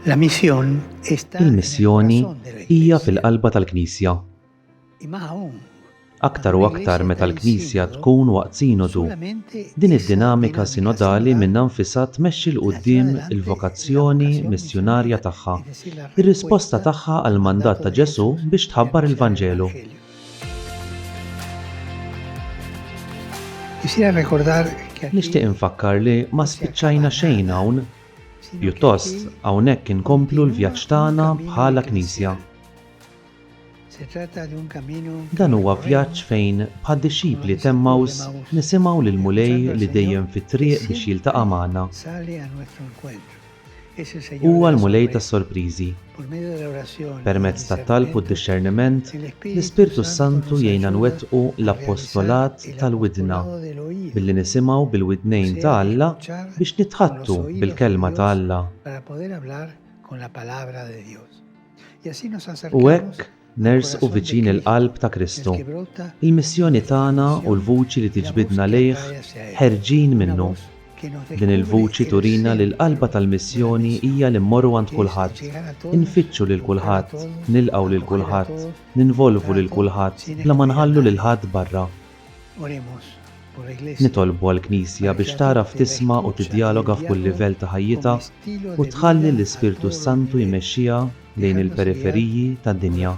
Il-missjoni hija fil-qalba tal-Knisja. Aktar u aktar meta l-Knisja tkun waqt Sinodu, din id-dinamika sinodali minnha nfisha tmexxi 'l quddiem il-vokazzjoni missjunarja tagħha, ir-risposta tagħha għall-mandat ta' Ġesù biex tħabbar il-Vanġelu. Nixtieq infakkar li ma spiċċajna xejn hawn. Pjuttost, hawnhekk inkomplu l-vjaġġ tagħna bħala Knisja. Dan huwa vjaġġ fejn, bħad-dixxipli t'Emmaus, nisimgħu lill-Mulej li dejjem fit-triq biex jiltaqa' magħna. Huwa l-Mulej tas-sorpriżi. Permezz tat-talb u d-dixxerniment, l-Ispirtu s-Santu jgħinna nwettqu l-appostolat tal-widna, billi nisimgħu bil-widnejn ta' Alla biex nitħaddtu bil-Kelma ta' Alla. U hekk, Nersqu viċin il-qalb ta' Kristu. Il-missjoni tagħna u l-vuċi li tiġbidna lejh ħerġin minnu. Din il-vuċi turina li l-qalba tal-missjoni hija li mmorru għand kulħadd, infittxu lil kulħadd, nilqgħu lil kulħadd, ninvolvu lil kulħadd bla ma nħallu lil ħadd barra. Nitolbu għall-Knisja biex tagħraf tisma' u tiddjaloga f'kull livell ta' ħajjitha u tħalli l-Ispirtu s-Santu jmexxiha lejn il-periferiji tad-dinja.